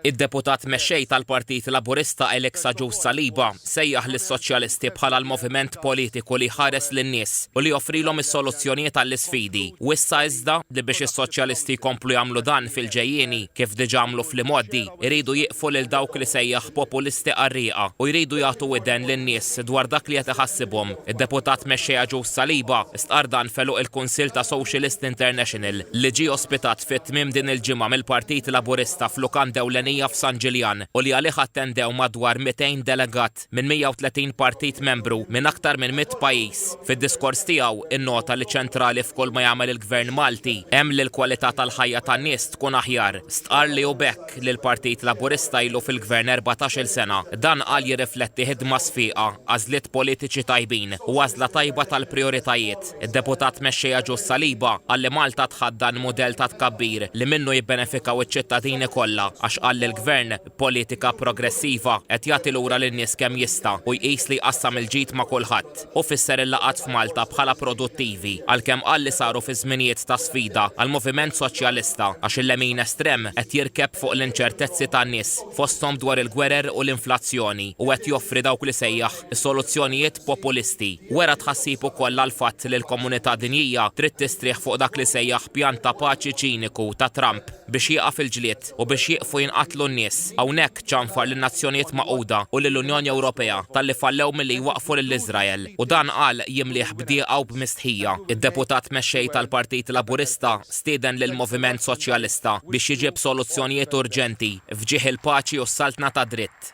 Id-Deputat Mexxej tal-Partit Laburista Elix Agius Saliba sejjaħ lis-Soċjalisti bħala l-moviment politiku li jħares lin-nies u li joffrilhom is-soluzzjonijiet għall-isfidi u issa iżda li biex is-Soċjalisti jkomplu jagħmlu dan fil-ġejjieni kif diġà għamlu fl-imgħoddi iridu jieqfu lil dawk li sejjaħ populisti qarrieqa u jridu jagħtu widen lin-nies dwar dak li qed iħassibhom. Id-Deputat Mexxej Agius Saliba stqarr dan f'għeluq il-Kunsill ta' Socialist International. li ġie ospitat fi tmiem din il-ġimgħa mill-Partit Laburista f'lukanda ewlenija f'San Ġiljan u li għalih attendew madwar 200 delegat minn 130 partit membru minn aktar minn mitt pajjiż. Fid-diskors tiegħu, innota li ċentrali f'kulma jagħmel il-Gvern Malti hemm li l-kwalità tal-ħajja tan-nies tkun aħjar. Stqarr li hu b'hekk li l-Partit Laburista ilu fil-Gvern erbatax-il sena. Dan qal jirrifletti ħidma sfieqa, għażliet politiċi tajbin u għażla tajba tal-prijoritajiet. Id-Deputat Mexxejja Ġus Saliba qal li Malta tħaddan mudell ta' tkabbir li minnu jibbenefikaw iċ-ċittadini kollha għax qal li l-Gvern, b'politika progressiva, qed jagħti lura lin-nies kemm jista' u jqis li jqassam il-ġid ma' kulħadd. Hu fisser il-laqgħat f'Malta bħala produttivi għalkemm qal li saru fi żminijiet ta' sfida għall-moviment soċjalista għax il-lemin estrem qed jirkeb fuq l-inċertezzi tan-nies fosthom dwar il-gwerer u l-inflazzjoni u qed joffri dawk li sejjaħ is-soluzzjonijiet populisti. Wera tħassib ukoll għall-fatt li l-komunità dinjija trid tistrieħ fuq dak li sejjaħ pjan ta' paċi ċiniku ta' Trump biex jieqaf il-ġlied u biex jieqfu jinqatlu n-nies. Hawnhekk ċanfar lin-Nazzjonijiet Magħquda u lill-Unjoni Ewropea talli fallew milli jwaqqfu lil Iżrael u dan qal jimlieh b'dieqa u b'mistħija. Id-Deputat Mexxej tal-Partit Laburista stieden lill-Moviment Soċjalista biex jiġib soluzzjonijiet urġenti. F'ġieħ il-paċi u s-saltna tad-dritt.